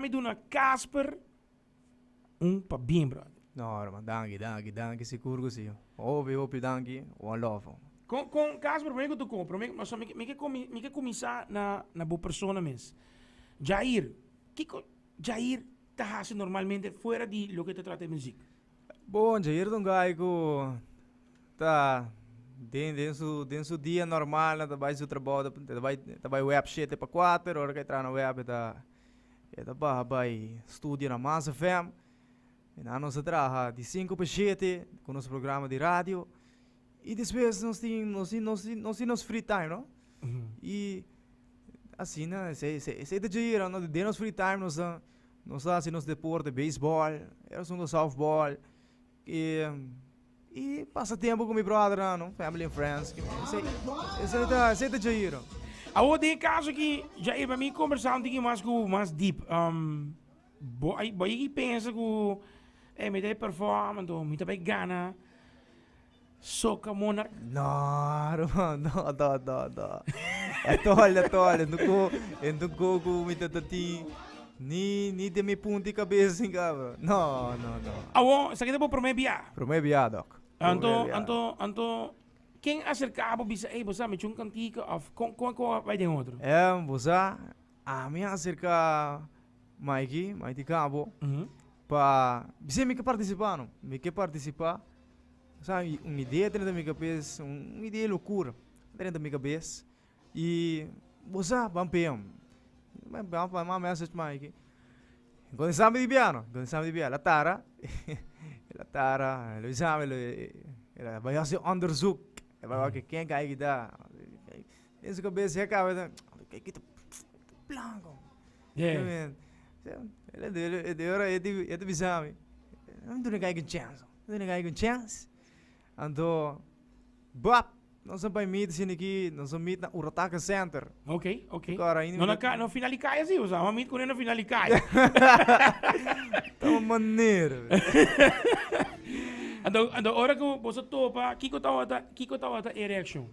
Mi duna Casper un pa bien brother. No man danki danki danki sigur ku si hopi hopi danki one love man. Kon kon Casper prome ku tu kon prome no so mi ke mi ke kuminsá na na bo persona mes Jair kiko Jair ta hasi normalmente fuera di loke ta trata di muzik. Bon Jair ta un guy ku ta den den su den su dia normal na ta bai su trabou ta bai ta bai wèp shete pa kuater ora ke traha na wèp e ta. E ta baha bai studio na Maas FM. Kina nos a traha di sinku pa shete ku nos programa di radio. I despues nos tin, nos tin, nos tin, nos tin nos free time, no? I asina esei, esei, esei ta djei yera, no? Den nos free time nos a, nos a hasi nos deporte, beisbòl, e asuntu sòftbòl. i pasa tempu ku mi bròdrnan no family and friends esei ta djayi no. Awor den e kaso aki Jair pa mi kombersá un tiki mas ku mas deep bo a bo a yegi pensa ku ey mi ta e perform anto mi ta bai gana Soca Monarch? No, hermano, no, no, no, no. E tol, e tol, en duco, en duco cu mi tata ti. Ni, ni de mi punti cabeza sin cabra. No, no, no. Awo, sa que te bo prome bia? Prome bia, doc. Anto, anto, anto, ken acercabo bisa, ey, bo sa, me chun cantica of con, con, con, bay den otro? Em, bo sa, Ah, mi a acerca Mikey, Mikey Cabo, pa bis'e mi ke participa no. Mi ke participa, sa un idea drenta mi cabes, un idea locura drenta mi cabes. Y bo sa ban pea. Bo sa mi di bia no, bo sa mi di bia. La tara, la tara lo exame, lo e, e la baya hace onderzoek, e la wak e ken kai kita. Den su cabeza ya caba esa ey kita plan con ya ta bisami no me duna cai con chance no me duna cai con chance anto bap nos sa bay meet asina aki nos sa meet na urataca center oke oke no na cai no final di cai asi nos a meet cune na final di cai tuma manera anto ora cu boso topa kico tawata kico tawata e reaccion.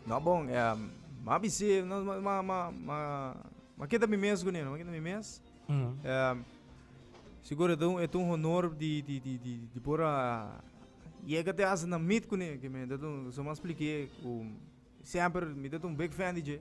No a bon, e a bis'é nos m'a keda mi mes kuné, m'a keda mi mes. Sigur e ta e ta un honor di di di di di por a yega te asina meet kuné, ke men ta tun, su mas plik'é ku semper mi ta tun big fan di dje.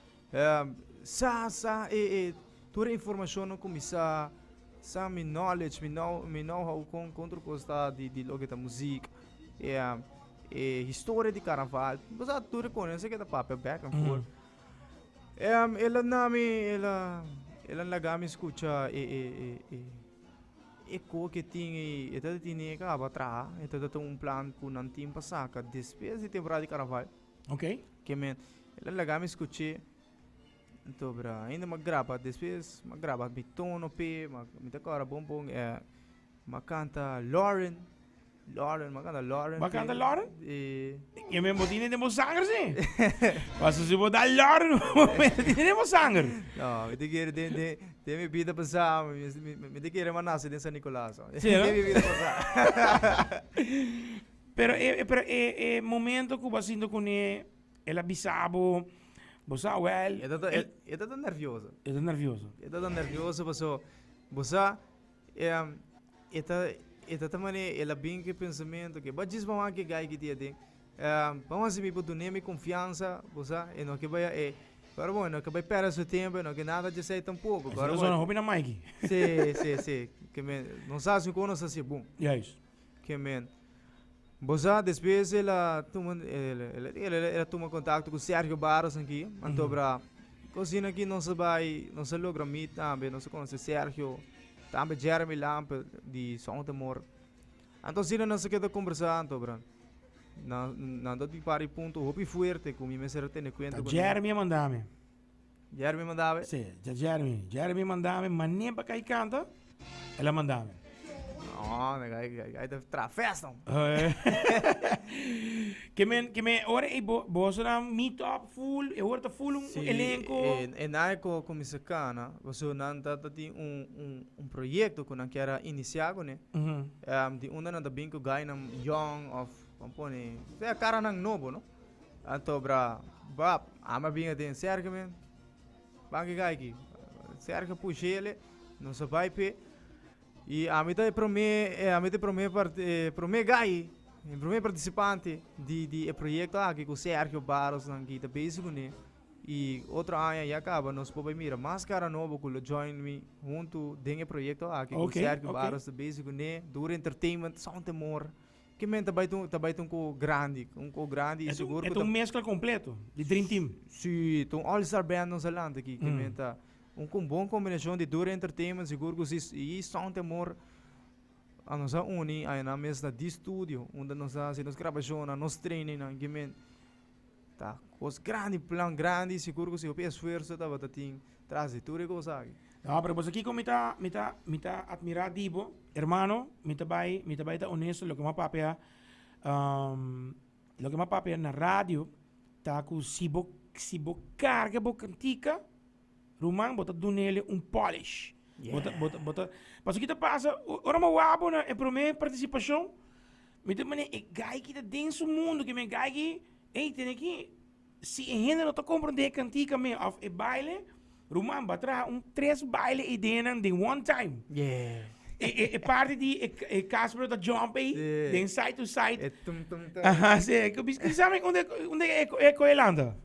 Sa sa e e tur e informashonnan ku mi sa, sa mi knowledge, mi know mi know how kon kon otro kos ta di di loke ta muzik. E e historia di karnaval. Bo sa tur e konense ke ta papia back and forth. Em el a na mi el a el a laga mi skucha e e e e e ko ke tin e e ta tine kaba traha. E ta tata un plan ku nan tin pa saka despues di temporada di karnaval. Ok. Ke men, el a laga mi skuché. Anto bra, ainda ma graba, despues ma graba mi tono pe, ma mi ta kora bon bon eh, ma kanta Lauren. Lauren, ma kanta Lauren. Ma kanta Lauren? Eh. Ke men bo tine den bo sanger si. Paso si bo da Lauren, bo mester tine den bo sanger. No, mi ta kere den den den mi bida pasá, mi mi mi ta kere ma nase den San Nicolas. Den mi bida pasá. Pero e e e momento ku bo a sinti kuné el a bisa bo, bo sa wèl. E ta ta e ta ta nervioso. E ta nervioso. E ta ta nervioso pasó bo sa e e ta e ta ta manera el a bin ku e pensamentu ke bo a djis bo a wak e gai ku di aden bo a hasi mi bo dun'é mi konfiansa bo sa e no ke bai e ora bo e no ke bai pèrdè su tempu e no ke nada dje esei tampoco. Hopi na maiki. Sí sí sí ke mi nos hasi kon nos hasi bon. Kement. Bo sa, despues el a tuma, el, el a di el, el a tuma kontakto ku Sergio Barros aki, antobra ku asina aki nos a bai, nos a logra mit tambe, nos a konosé Sergio, tambe Jeremy Lampe di Southermore. Anto asina nos a keda kombersá, antobra nan, nan a bai un par di punto hopi fuerte ku mi mester a tene kuenta. Ta Jeremy a manda mi. Jeremy mandabe. Sí, dja Jeremy. Jeremy mandabe mané pa kai kanta. El a mandabe. No, me gai, gai, gai, trafes no. que me, que me, ora e bo, boso na meet up full, e ora ta full un sí, elenco. E, e nai ko comienza cana, boso nan ta, ta tin un, un, un proyecto ko nan kera inicia ko ne. Mm -hmm. um, di unda nan ta bin ko gai nan young of, pone, sea cara nan nobo, no? Anto bra bap ama bin aden serke men ban ke kai ki serke pushele nos a bai pe i ami ta e prome e ami ta e prome part e prome gai e prome partisipante di di e proyekto aki ku serke baros nan kita besi kuné i otro aña ya kaba nos por bai mira mas kara nobo ku lo join mi huntu den e proyekto aki ku serke baros ta besi kuné dura entertainment sòn temor. Ki men ta bai tun ta bai tun koho grandi, un koho grandi i sigur ku ta. E ta un meskla kompleto di dream team. Sí, ta un all star band nos a lanta aki ki men ta un kon bon kombinashon di Dura Entertainment sigur ku si i Son Temor a nos a uni ayenan mes na di studio unda nos a hasi nos grabashonnan, nos traininnan, ki men. ta kos grandi plan grandi sigur ku si hopi esfuerso tabata tin tras di tur e kos aki. No, pero boso kiko mi ta mi ta mi ta atmirá di bo, hermano, mi ta bai mi ta bai ta onesto loke mi a papia loke mi a papia na radio ta ku si bo si bo karga bo kritika Ruman, bo ta dunele un polish. Bo ta, bo ta, bo ta. Paso ki ta pasa, o- ora mi wak bo na e promé partisipashon, mi ta mane e gai ki ta den su mundu, ki mi e gai ki, ei, tene ki, si e hende no ta komprondé e kantika me òf e baile, ruman, bo a traha un tres baile eideenan den one time. E, e, e parti di e, e Casper lo ta jump ei, Sí. den side to side. E tum tum tum. Aha, sí, ku bis, ku sabe unda, unda e, e koe lanta?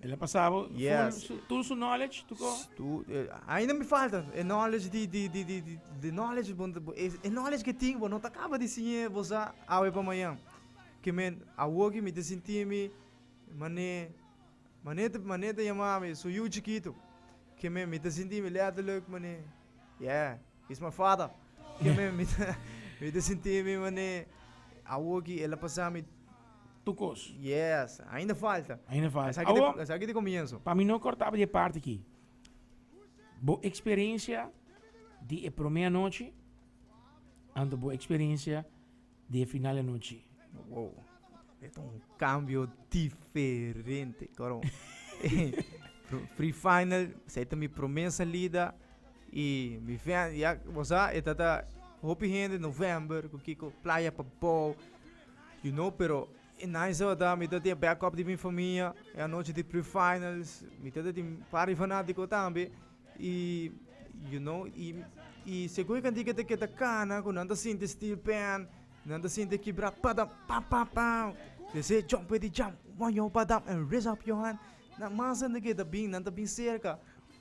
El a pasabo yes. full su, tur su knowledge tuko. Tu, eh, ainda me falta e knowledge di di di di di, di knowledge bon, e knowledge que ting bon no ta acaba di sinye bosa awe pa mañan. Que men awoki mi te sinti mi mane mane te mane te yama mi su yu chikito. Que men mi te sinti mi letterlijk mane yeah. He's my father. Mi ta sinti mi mane awo ki el a pasa mi tu cos. Yes, ainda falta. Ainda falta. Sa Awo, sa ki te comienzo. Pa mi no cortaba di e parti ki. Bo experiencia di e prome anochi, anto bo experiencia di e final e anochi. Wow, e ta un kambio diferente karon. Free final, sa e ta mi promé salida i mi ven, ya bo sa, e ta ta hopi hende november, ku kiko playa pa bou, you know, pero e nice tabata mi ta tin e backup di mi famia, e anochi di prefinals, mi ta tin par di fanatiko tambe. I you know i seguro kantika ta keda kana ku nan ta sinti still pèn nan ta sinti e kibra padam pam pam pam they say jump where they jump on your padam and raise up your hand nan mas hende ke ta bin nan ta bin serka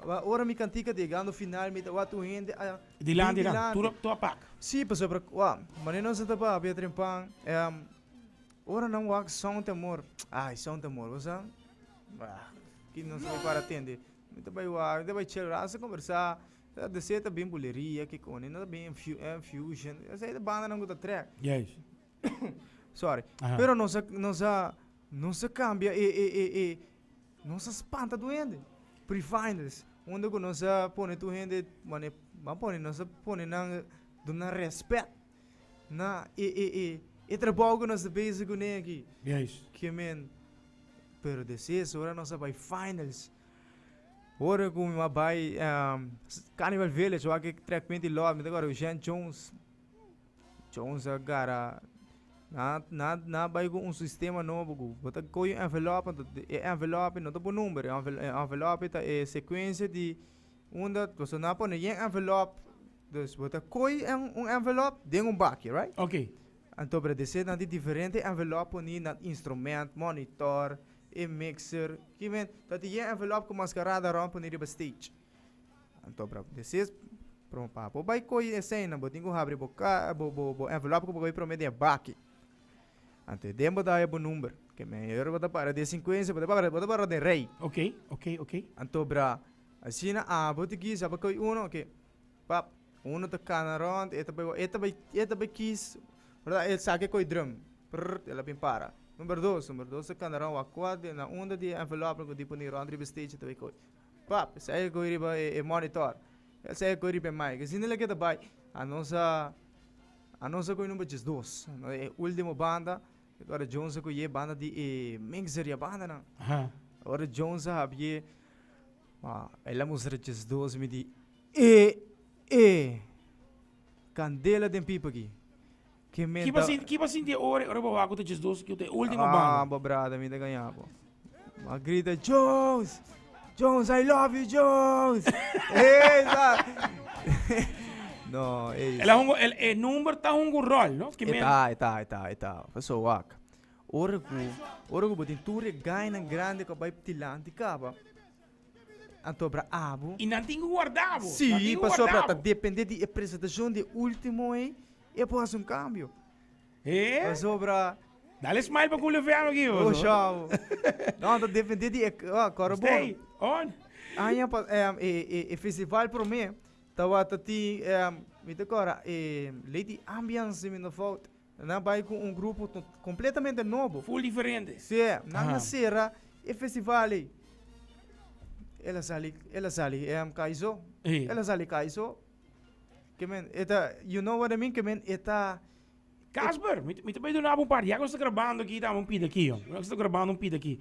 a ora mi kantika ta yegando final mi ta wak tur hende a bin dilanti tur a pak si pasobra kua manera nos a ta papia a trempan ora nan wak sònt temor ai sònt temor bo sa ki nos prepara tende. Mi ta bai wak, mi ta bai chel ras ta kombersá. Deseo ta bin buleria, kikuni, no ta bin infu, infusion. Esei ta bandanan ku ta trèk. Yes. Sòri. Aha. Pero nos a, nos a, nos a kambia e, e, e, e, nos a spanta tur hende. Prefinders, unda ku nos a pone tur hende manera, bo a pone, nos a pone nan, duna nan rèspèt. Na e e e e trabou ku nos ta bezi kuné aki. Yes. Kiemen. Pero deses ora nos a bai finals. Ora ku mi a bai um, Carnival Village, wak e track menti lot, mi ta kòrda ku Jean Jones. Jones a gara na na na bai ku un sistema nobo ku bo ta koyo un envelop, e envelop no ta pon number, e envelop ta e sekuensia di Unda boso no a pone yen envelop. Dus bo ta koi en un envelop den un baki, right? Ok. Anto bra di esei nan di diferente envelop poni nan instrumènt, monitor, e mixer, ki men. Ta tin yen envelop ku maskarada rònt poni riba stage. Anto bra di esei prome pa bo bai koi eseinan bo tin ku habri bo ka bo bo bo envelop ku bo koi prome den e baki. Anto e den bo dai e bo number. Ke men ora bo ta para di e sinkuensia bo ta bo ta para den rei. Ok, ok, ok. Anto bra. Asina abo ta kisa pa koy uno ke pap uno ta kana rond e ta bai e ta bai e ta bai kis bra e sa ke koy drum prrrt e la bin para number dos number dos ta kana rond wakwat den na unda di envelop loke di puni rond riba stage ta bai koy pap sa e koy riba e e monitor e sa e koy riba e mic e si na leke ta bai anos a anos a koy number djesdos no e ultimo banda. Ora Jones a coye banda di e mixer ya banda nan. Aha. Ora Jones a habie, ma el a mustra just dos mi di e e candela den pipa ki. Kiba sinti ora ora bo waku ta just dos ki te ultimo banda. Ah bo brada mi ta gaña bo. a grita, Jones! Jones, I love you, Jones! no, e... El, hongo, el, e number ta hongo rol, no? Ki men... Eta, eta, eta, eta. Paso wak. Ora ku, ora ku botin tur gaina grande ka bai tilanti kaba. Antobra abu. I nan tingu guardabo. Si, si paso ta depende di e presentacion di ultimo e, e po hace un cambio. Hee? Pasobra. Dale smile pa Culiofeano aki. Oh, shao. no, ta defender di ek, oh, Coro Stay on. Aña pa, um, e, e, e festival pro me, tawa ta ti, um, mi te cora, e, Lady Ambiance, mi no fout. Na bai con un grupo to, completamente novo. Full diferente. Sí, na na sera e festival ei. Ela sali, ela sali, um, Kaiso. Hey. Ela sali Kaiso. Kemen, e ta, you know what I mean, kemen, e ta. Casper, mi ta bai duna bo un par, ya ku no sta grabando aki, dame un pida aki, yo. No sta grabando un pida aki.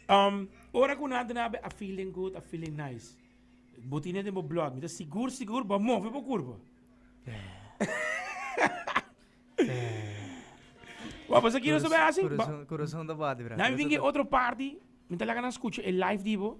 Um, ora ku nan ta na be, a feeling good, a feeling nice. Bo tine den bo blood, mi ta sigur, sigur, bo a move bo kurpa. Wa pasa ki no sa be hasi? Ba- Kurason, kurason ta bati, bra. Nan Kurason vingi ta- otro party, mi ta laga nan skucha e live di bo.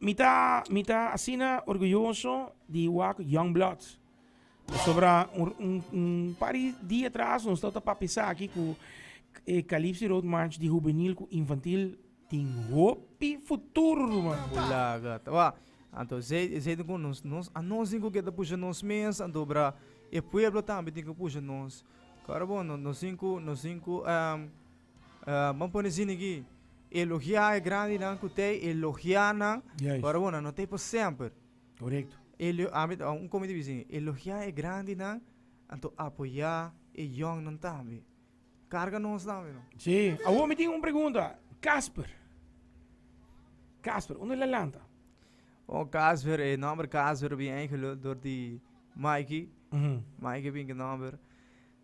Mi ta mi ta asina orguyoso di wak Youngblood. Pasobra un, un, un par di dia atras nos ta papia esaki ku e Calypso Road March di hubenil ku infantil tin hopi futuro ruman. Bulaga. Tawa, anto zei zei ku nos nos a nos tin ku ke ta pusha nos mes, anto bra e pueblo tambe tin ku pusha nos. Kòrbo nos tin ku nos tin ku ehm Bo pone zin aki, Elogiá e grandinan ku tei elogiá nan, Juist. ora bo nan no tei pa semper. Korekto. Elio, ami, a un komo mi ta bisa, elogiá e grandinan, anto apoyá e yòngnan tambe. Karga nos tambe, no? Sí. Awor mi tin un pregunta. Casper. Casper, unda el a lanta? O Casper, e nòmber Casper a bin enkele dor di Mikey. Mikey a bin ku e nòmber.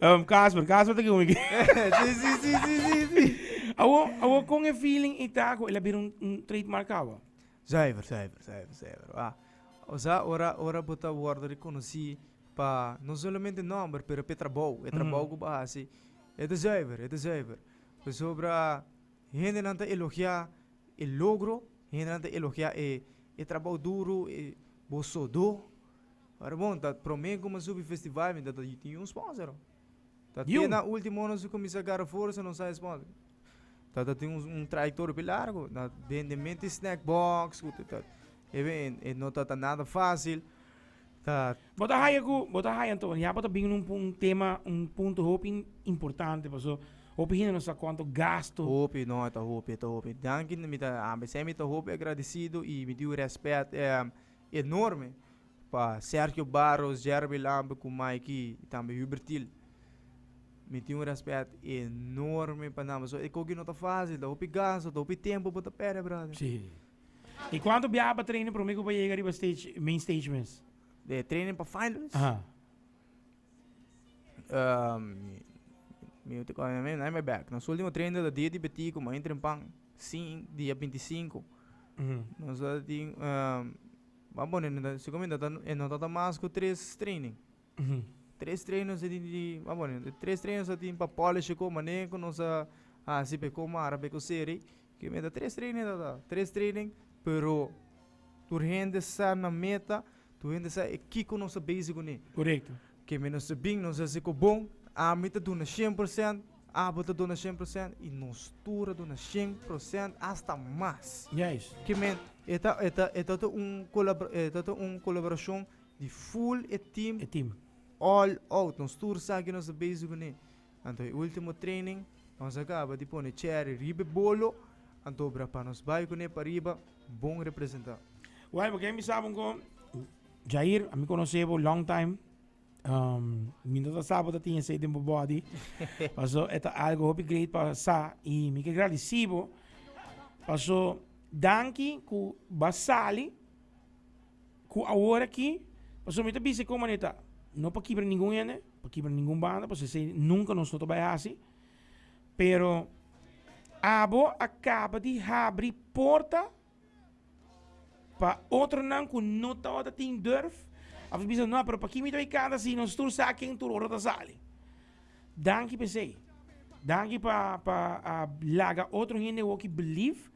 Um, Casper, Casper te kumi. sí, sí, sí, sí, sí, sí. Awo, awo con e feeling y taco, el abir un, un trademark awa. Zuiver, zuiver, zuiver, zuiver. Ah. O sea, ora, ora bota worden reconocí pa, no solamente nomber, pero pe trabou. E trabou mm. ba hasi. E te zuiver, e te zuiver. Pues sobra, hende nan te elogia e logro, hende nan te elogia e, e trabou duro, e, bo sodo, Ora bon, ta prome ku mi a subi festival mi ta ta tin yu un sponsor. Ta te na ultimo nos a kuminsá gara forsa nos hay sponsor. Ta ta tin un trayektoria pi largu. Na bende mente snack box ku ta ta e no ta ta nada fásil. Ta. Bo ta haya ku, bo ta haya anto, ya bo ta bini ku un tema, un punto hopi importante paso hopi hende no sa kuantu gastu. Hopi, no e ta hopi, e ta hopi. Danki mi ta, mi ta hopi agradesidu i mi di yu rèspèt. enorme pa Sergio Barros, Jerby Lampe cu Mikey y tambe Hubertil. Mi tin un respet enorme pa nan pasobra e cogi no ta facil, ta hopi gasto, ta hopi tempo bo ta perde brother. Sí. Y cuanto biaha pa training prome cu bo a yega riba stage, main stage mes? De training pa finals? Aha. Nos ultimo trainer ta dia di betico mei trempan sin dia binti sinku nos ta tin a bo no ta mas ku tres training tres trainers a di a bo tres trainers a tin pa polish e ku mane ku nos a hasi pe ku mara pe ku seri Ke meta tres training ta ta tres training pero tur hende sa na meta tur hende sa e kiko nos ta bezi kuné korekto ke me nos ta bin nos hasi ku bon ami ta duna shen porsent abo ta duna shen porsent i nos tur a duna shen porsent asta mas yes ke me e ta e ta e ta ta un kolabra e ta ta un kolaborashon di full e tim e tim all out nos tur sa ke nos ta bezi kuné Anto e ultimo training nos a kaba di pone Cherry riba e bolo anto bra pa nos bai kune pariba bon representa. Wai bo ke mi sa bo ko Jair a mi konosé bo long time mi no ta sa bo ta tin esei den bo body paso e ta algo hopi great pa sa y mi ke gradisi bo paso danki ku ba sali ku awor aki, pasobra mi ta bisa e koman e ta, no pa kibra ningun hende, no pa kibra ningun banda, pasobra esei nunka nos no ta bai hasi, pero abo a kaba di habri porta pa otronan ku no tabata tin durf, a bisa no, pero pakiko mi ta bai kanta si nos tur sa ken tur ora ta sali? Danki pa esei, danki pa pa laga otro hende awor ki believe.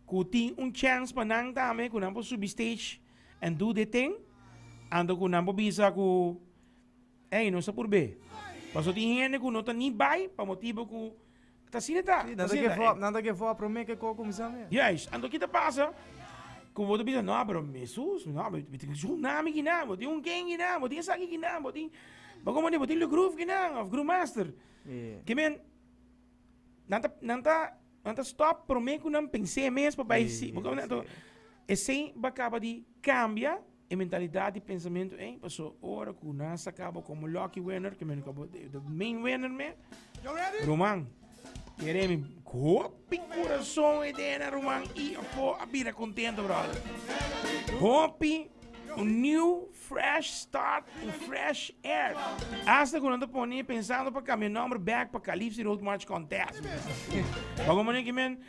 ku tin un chèns pa nan tambe ku nan por subi stage and do their thing anto ku nan por bisa ku ey nos a purb'é paso tin hende ku no ta ni bai pa motibu ku ta asina ta Sí, nan ta give up, nan ta give up promé ke koko kuminsá mes. Juist, anto ki ta pasa ku bo ta bisa no pero mi sus no mi tin e tsunami ki nan bo tin un ken ki nan bo tin esaki ki nan bo tin bo kon mandi bo tin lugruv ki nan of gruvmaster Yeah. Ke men nan ta nan ta Nan ta stop prome ku nan pens'é mes pa bai si. Bo kende anto esei ba kaba di kambia e mentalidat di pensamentu ei paso ora ku nan sa kaba komo lucky winner ke meno kaba de main winner me ruman kere mi hopi kurason e dena ruman i apo a bira kontento brother hopi un niu Fresh start en fresh air. Asta cu nan ta pone pensando pa cambia nomber back pa Calipsi Road March Contest. pa como neki men,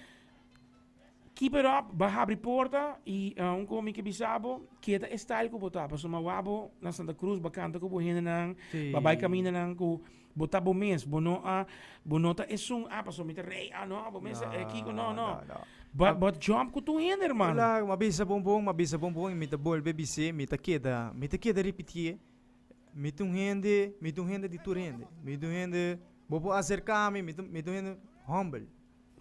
keep it up, bo habri porta y uh, un co mi ke bisa bo, keda e style cu bo ta, pasobra bo a bo na Santa Cruz, bo a canta cu bo hendenan, bo a bai caminda nan cu Bo ta bo mes, bo no a, bo no ta esun, ah pasobra mi ta rei, ah no, bo mester e kiko, no, no. No, no. Bo a, bo a jump ku tur hende, hermano. Claro, m'a bisa bon bon, m'a bisa bon bon i mi ta bolbe bis'é, mi ta keda, mi ta keda ripiti'é, mi ta un hende, mi ta un hende di tur hende, mi ta un hende, bo por aserkami, mi ta, mi ta un hende humble.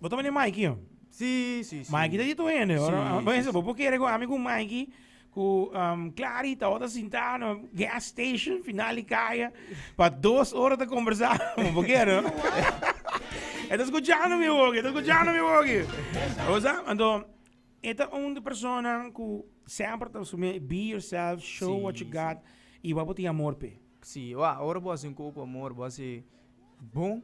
Bo ta mane Mikey ho? Sí, sí, sí. Mikey ta di tur hende. Sí, Bo sí, sí. bo por kere ku ami ku Mikey, ku um, Clary tabata sintá na gas station final di kaya pa dos ora ta kombersá. Bo por kere, no? E ta skuchando mi woki, e ta skuchando mi woki. Bo sa? Anto, e ta un di personanan ku semper ta sumia e be yourself, show Sí, what you sí. got, i wak bo tin amor p'e. Sí, wak, ora bo hasi un koko amor, bo hasi bon.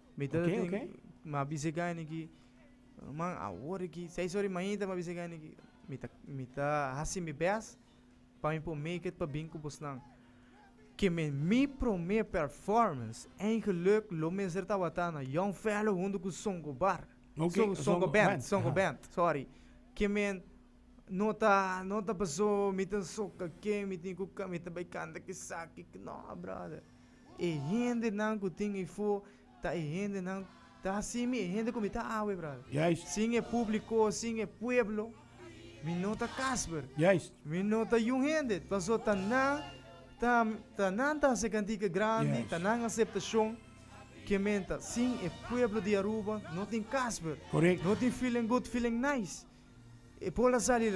Mi tata tin Oké, oké. ma bis'é gani ki man awor e ki seis ora di mainta ma bis'é gani ki mi ta mi ta hasi mi bes pa mi por make it pa bin ku bosnan ke me mi prome performance en geluk lo mester tabata na Young Fellow huntu ku Songo Bar Oké, Songo Songo Songo Band Band, Songo aha. Band sorry ke men no ta no ta paso mi ta soka ke mi tin ku ka mi ta bai kanta kesaki no brother. E hendenan ku tin eifo ta e hendenan, ta así mi e hende ku mi ta awe, brada. Juist. Sin e públiko, sin e pueblo, mi no ta Casper. Juist. Mi no ta yu hende. Paso ta nan, ta, ta nan ta hasi e kantika grandi, Juist. ta nan aseptashon. Ke menta, sin e pueblo di Aruba no tin Casper. Korek. No tin feeling good, feeling nice. E por a sali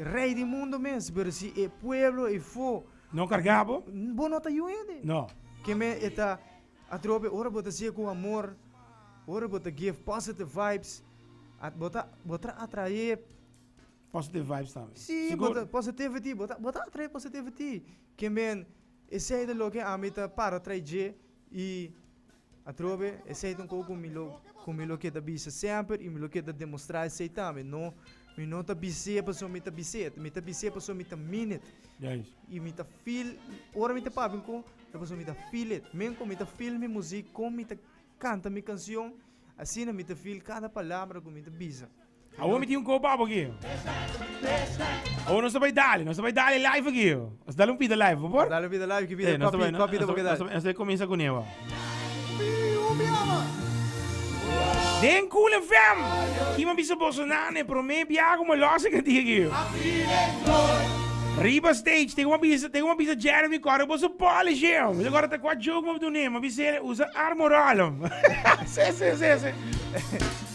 rey di mundo mes, pero si e pueblo e fo, no carga bo, bo no ta yu hende, no, ke me e ta atrobe ora bo ta sigue cu amor, ora bo ta give positive vibes, a bo ta bo ta atrae positive vibes tambe, si bo ta positivity bo ta bo ta atrae positivity, ke men esey ta loke ami ta para trae dje. I atrobe esei ta un kos ku mi lo ku mi lo keda bisa semper i mi lo keda demostrá esei tambe. No, mi no ta bis'é pasobra mi ta bis'é. Mi ta bis'é pasobra mi ta mean it. I mi ta feel ora mi ta papia un kos es pasobra mi ta feel it. Men kon mi ta feel mi muzik, kon mi ta kanta mi kanshon, asina mi ta feel kada palabra ku mi ta bisa. Awor mi tin un copa abo aquí. Awor nos bay dale, nos bay dale live aquí. Nos dale un pita live, por favor. Dale un pita live, que pita, cuál pita, cuál pita porque dale. Nos bay comienza con eva. Den Cool FM. Kima bisa Bolsonaro ne prome biago mo los ik die geo. Riba stage, tengo uma bisa, tengo uma bisa Jeremy Corre, boso polish eu. Mas agora tá com a jogo, mas do nem, mas bisa usa armorolum. Sim, sim, sim, sim.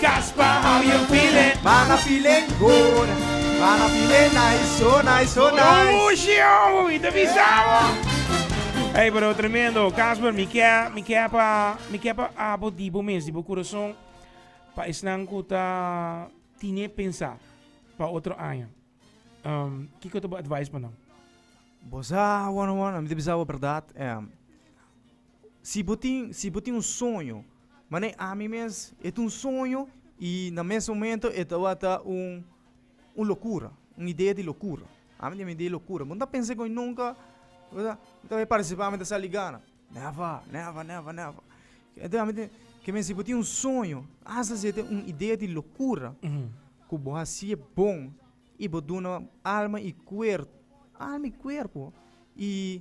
Caspa how you feeling? Manga feeling good Manga feeling nice so nice so nice Ooh shio y te bisa bo Ey pero tremendo Casper mi ke mi ke pa mi ke pa abo di bo mes di bo corazon pa esnan cu ta tine pensa pa otro aña um kico ta bo advice pa nan? Bo sa won won mi ta bisa bo berdad em. Si bo tin si bo tin un soño, manera ami mes e ta un soño i na mes momento e tabata un un lokura, un idea di lokura. Ami tin un idea di lokura. Bo no ta pensa koe nunka, berda, ta e partisipá mi ta sali gana. Nèvè, nèvè, nèvè, nèvè. Enton ami ta kimin si bo tin un soño, hasta si e ta un idea di lokura ku bo hasié bon i bo duna alma i kuer alma i kuerpo i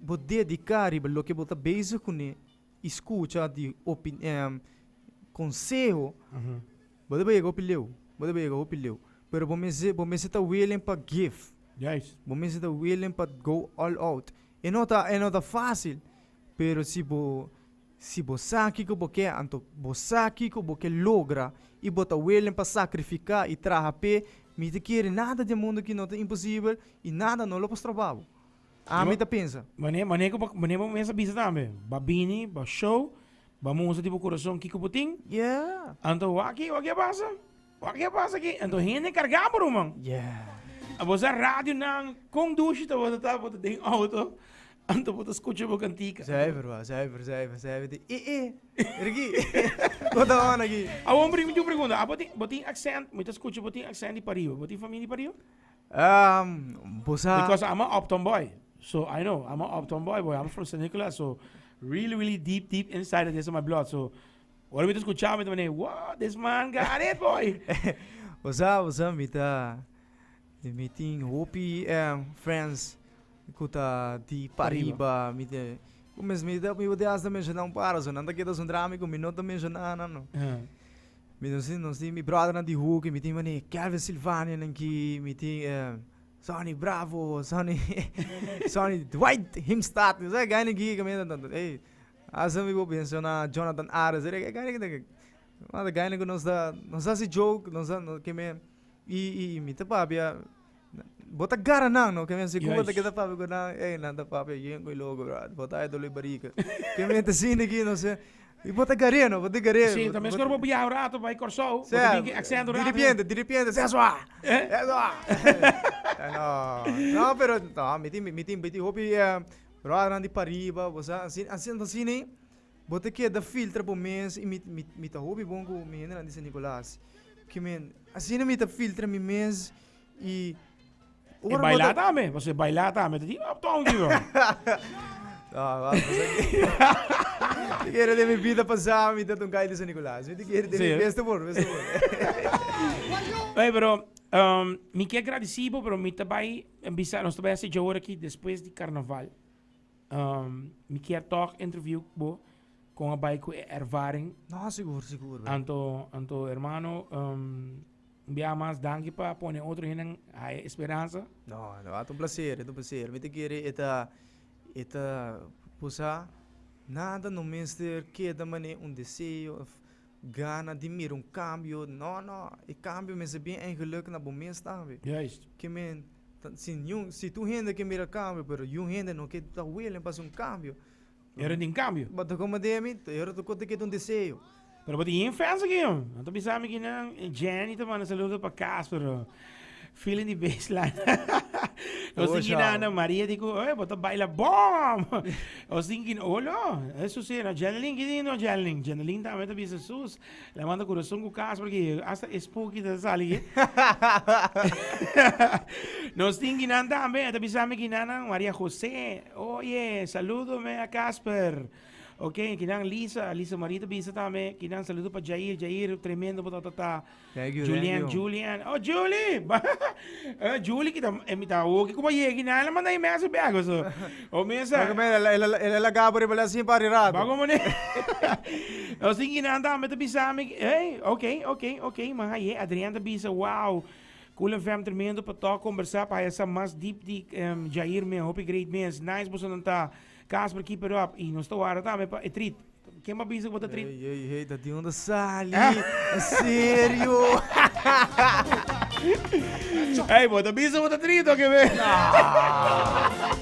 Bo dediká riba loke bo ta bezig kuné i skucha di konseho, bo debe yega hopi leu, bo debe yega hopi leu. Pero bo mester bo mester ta willing pa give. Juist. Bo mester ta willing pa go all out. E no ta e no ta fásil, pero si bo si bo sa kiko bo ke anto bo sa kiko bo ke logra i bo ta willing pa sakrifiká i traha p'e, mi ta kere nada den mundu aki no ta imposibel i nada no lo por stroba bo. Ami ta pensa. Mane, mane ku bo, mane bo mester bisa tambe. Bo bini, bo show, bo mustra di bo kurason kiko bo tin. Yeah. Anto wak e, wak e a pasa. Wak e a pasa aki. Anto hende kargá por bo, man. Yeah. A bo sa radionan kondushi ta bo ta ta, bo ta den outo. Anto bo ta skucha bo kantika. Zuiver wak, zuiver, zuiver, zuiver di e e. Riki, ku ta hona aki? Awor mi tin un pregunta. Abo tin, bo tin aksènt, mi ta skucha bo tin aksènt di pariba. Bo tin famia di pariba? Um, boss a. Because I'm a Uptown boy. So I know, I'm a Uptown boy, boy. I'm from St. Nicholas, so really, really deep, deep inside of this in my blood. So, ora mi te escuchaba, mi te mane, wow, this man got it, boy. Boss a, boss a, mi ta, mi tin hopi um, friends ku ta di pariba, mi te, ku mes mi ta, mi te hasta menciona un par, so nan ta kita sun drami ku mi no ta menciona, no, no. Uh. Mi nos tin nos tin mi bròdernan di huuki mi tin manera Kelvin Sylvanianan ki mi tin eh, Sonny Bravo Sonny Sonny Dwight Himstad mi sa gainan ki ka mi ta tantu ey asa mi por menciona Jonathan Ares ere e gainan ki ta nos ta gainan ku nos ta nos ta hasi joke nos ta nos keme i i mi ta papia Bo ta gara nan no, kèmen asina kumba ta keda papia ku nan, ey nan ta papia yen ku e logu brother, bo ta haña dolo e barika, kèmen enta asina aki no se, i bo ta gar'é no, bo ta gar'é. Sí, ta meskor bo bia un ratu bai Kòrsou, bo ta bin ki accent un ratu. Di ripiente, di ripiente, sè sua! Sè sua! No, no pero, no mi tin, mi tin, mi tin hopi brothernan di pariba, bo sa, ansi, ansi, ansini bo ta keda filtra bo mes, i mi, mi ta hopi bon ku mi hendenan di San Nicolas, kèmen asina mi ta filtra mi mes. Y E bailá tambe, pasobra bailá tambe ta di uptown aquí lo. Mi kere den mi bida pasá mi tat un kai di San Nicolas. Mi ti kere den mi besta por, besta por. Oye, pero um, mi ke agradeci bo, pero mi ta bai en bisa, nos ta bai hasi jawor aki despues di carnaval. Um, mi kier toch interview cu bo, con a bai cu e ervaring. No, sigur, sigur. Anto, anto hermano, um, Un biaha mas danki pa pone otro hende hae esperansa. No, no, et un placer, et un placer. Mi ta kere e ta e ta pusa nada no mester keda mane un deseo of gana di mira un cambio. No, no, e cambio mester bin eigenlijk na bo mes tambe. Juist. Ke men ta si niun si tur hende ke mira cambio pero yun hende no ke ta willing pa haci un cambio Io ren tin cambio. Bo ta como demi, io ren ta cote que ton deseo. Pero bo tin yin fans aki yo. Nan ta bisa mi kinan Jenny ta manda saludo pa cas pero feeling di baseline. o sin kinan no Maria di ku eh bo ta baila bom. o sin kin olo. Eso si no Jenny Lin ki di no Jenny Lin. Jenny Lin ta me ta bisa sus. Lemanta kurason ku kas paski hasta e spooky ta sali ke. Nos tin kinan tambe e ta bisa mi kinanan Maria José. Oye, saludo me a Casper. Ok, kinan Lisa, Lisa Marie ta bisa tambe. Kinan saludo pa Jair, Jair tremendo bo ta ta ta. Thank you, thank Julian, you. Julian. Oh, Julie! Julie ki ta invitá hopi ku bo yegi nan lo manda e mes op bèk so. O mi sa. El a lagá por riba el a sin pari rato. Ba komo ne. Nos tin ki nan tambe ta bisa mi ki ey ok ok ok man aye Adrian ta bisa wow Cullen FM tremendo pa tok kombersá pa haya sa mas deep di Jair mi hopi great mes nice bosonan ta Casper keep it up i nos ta wardá tambe pa e treat. Ken bo a bisa ku bo ta triste? Hey, hey, hey, ta di unda sali? En serio? Hey, bo ta bisa ku bo ta triste oke be?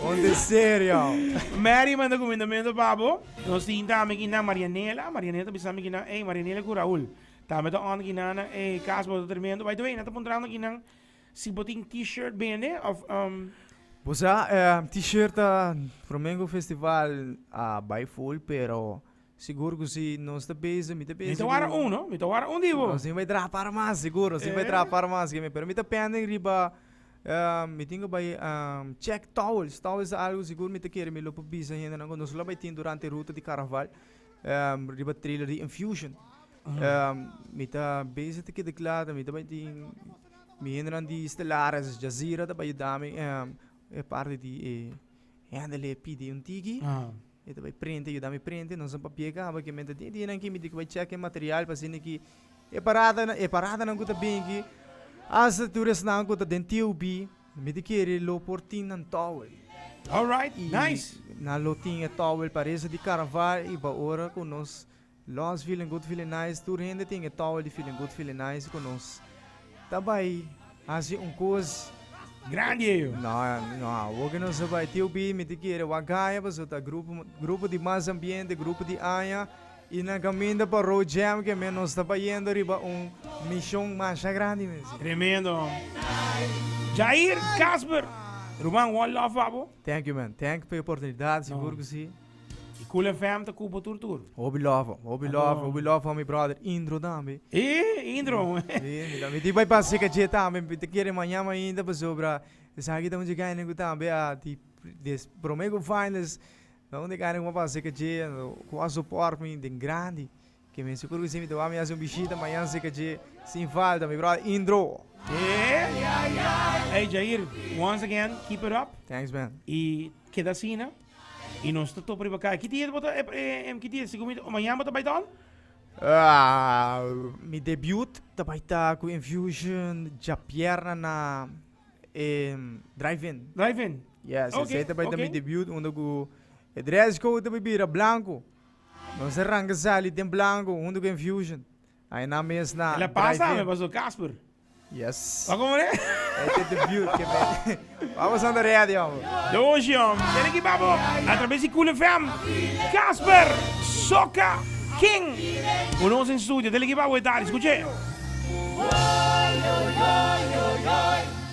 Unda es serio? Mary manda kumindamentu pa bo. Nos tinta ami kinan Marianela. Marianela ta bisa ami kinan, hey, Marianela ku Raul. Tambe ta ònt kinan nan, hey, kas bo ta tremendo. By the way, nan ta puntrando kinan Si bo tin T-shirt bende of umm. Bo sa e T-shirt ta Fromengo festival a bai full pero sigur cu si nos ta peza mi ta peza. Mi ta wara un no mi ta wara un di bo. Nos tin bai traha para mas sigur nos tin bai traha para mas ke mi pero mi ta pending riba e mi tin cu bai e check towels towels ta algo sigur mi ta kere mi lo por bisa hendenan cu nos lo bai tin durante ruta di caraval e riba trailer di infusion e mi ta beza ta keda clara mi ta bai tin. Mi hendenan di Stellares Jazeera ta bai yudami e parti di e handle e pidi un tiki. Ah. E ta bai prente, yudami prente, nos un papia kaba ke menta di dinan ki mi di bai check e material pa sini ki e parada e parada nan ku ta binki hasta tur esnan ku ta den TUB mi di kere lo por tin nan towel. Alright, nice. Nan lo tin e towel parese di carnaval i ba ora ku nos Los Feeling Good Feeling Nice tur hende tin e towel di Feeling Good Feeling Nice ku nos ta bai hasi un kos Grandi e yo. No no awo ke nos a bai TOB mi ta kere wak haya paso ta grupo grupo di mas ambiente grupo di aña i nan kaminda pa Road Jam ke men nos ta bayendo riba un mishon masha grandi mi a si. Tremendo man. Jair, Casper, ruman one love pa bo. Thank you man thank pa e oportunidat sigur ku si. Y Cool FM ta cu bo tur tur. Hopi love, hopi love, hopi love for mi brother Indro tambe. E Indro. Si, mi ta mi di bai pa seka dje tambe, mi ta kere maña mainta pasobra esaki ta un dje kaina ku tambe a di des prome ku finalist ta un dje kaina ku a pa seka dje ku a support mi den grandi. Ke men sigur ku si mi ta wak mi hasi un bishita mañan sika dje sin falta mi bròder Indro. Ey Jair once again keep it up Thanks man. i keda asina i nos ta topa riba kaya. Ki dia bo ta eh ki dia sigur mi ta mañan bo ta bai ta hòl? Mi debiut ta bai ta ku Infusion djapierna na e Drive In. Drive In? Yes esei ta bai ta mi debiut unda ku e dress code ta bai bira blanku. Nos a ranga sali den blanco hunto cu Enfusion. Ai nan mes na Ela pasa drive-in. mi paso Casper. Yes. Wak como e? E te debut ke mete. Vamos anda ready homber. De oshi hom. Tene ki babo a traves di Cool FM. Casper Soca King cu nos den studio. Tene ki babo e tardi. Scuche.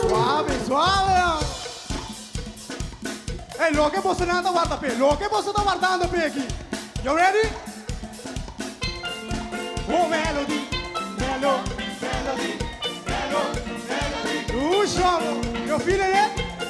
Suave, suave a. Ey, loke boso nan ta warda pe, loke boso ta wardando pe aki. Yo ready? Oh melody, melo, melody, melo, melody. Ooh, shomo, yo feel it, eh?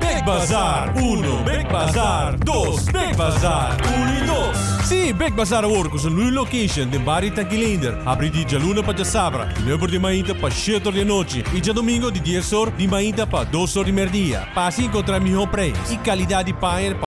Bek Bazar uno, Bek Bazar dos, Bek Bazar uno y dos. Sí, Bek Bazar awor cu su nuevo location den Barrio Tankilinder abri di djaluna pa djasabra di nueve or di mainta pa shete or di anochi y djadomingo di dies or di mainta pa dos or di merdia. Pasa y encontra miho prijs y calidad di paña.